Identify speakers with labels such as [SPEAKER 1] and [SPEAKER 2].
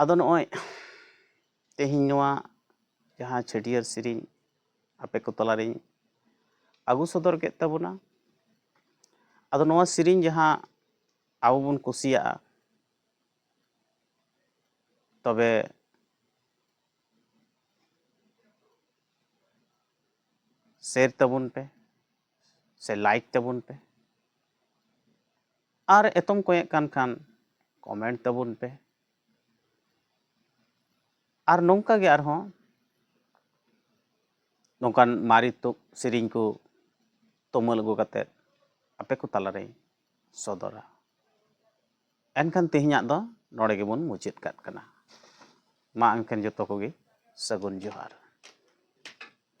[SPEAKER 1] ᱟᱫᱚ ᱱᱚᱜᱼᱚᱭ ᱛᱮᱦᱮᱧ ᱱᱚᱣᱟ ᱡᱟᱦᱟᱸ ᱪᱷᱟᱹᱴᱭᱟᱹᱨ ᱥᱮᱨᱮᱧ ᱟᱯᱮ ᱠᱚ ᱛᱟᱞᱟᱨᱤᱧ ᱟᱹᱜᱩ ᱥᱚᱫᱚᱨ ᱠᱮᱫ ᱛᱟᱵᱚᱱᱟ ᱟᱫᱚ ᱱᱚᱣᱟ ᱥᱮᱨᱮᱧ ᱡᱟᱦᱟᱸ ᱟᱵᱚ ᱵᱚᱱ ᱠᱩᱥᱤᱭᱟᱜᱼᱟ ᱛᱚᱵᱮ ᱥᱮᱭᱟᱨ ᱛᱟᱵᱚᱱ ᱯᱮ ᱥᱮ ᱞᱟᱭᱤᱠ ᱛᱟᱵᱚᱱ ᱯᱮ ᱟᱨ ᱮᱛᱚᱢ ᱠᱚᱭᱮᱜ ᱠᱟᱱ ᱠᱷᱟᱱ ᱠᱚᱢᱮᱱᱴ ᱛᱟᱵᱚᱱ ᱯᱮ ᱟᱨ ᱱᱚᱝᱠᱟ ᱜᱮ ᱟᱨᱦᱚᱸ ᱱᱚᱝᱠᱟᱱ ᱢᱟᱨᱮ ᱛᱩᱫ ᱥᱮᱨᱮᱧ ᱠᱚ ᱛᱩᱢᱟᱹᱞ ᱟᱹᱜᱩ ᱠᱟᱛᱮᱫ ᱟᱯᱮ ᱠᱚ ᱛᱟᱞᱟᱨᱮᱧ ᱥᱚᱫᱚᱨᱟ ᱮᱱᱠᱷᱟᱱ ᱛᱮᱦᱮᱧᱟᱜ ᱫᱚ ᱱᱚᱰᱮ ᱜᱮᱵᱚᱱ ᱢᱩᱪᱟᱹᱫ ᱠᱟᱜ ᱠᱟᱱᱟ ᱢᱟ ᱮᱱᱠᱷᱟᱱ ᱡᱚᱛᱚ ᱠᱚᱜᱮ ᱥᱟᱹᱜᱩᱱ ᱡᱚᱦᱟᱨ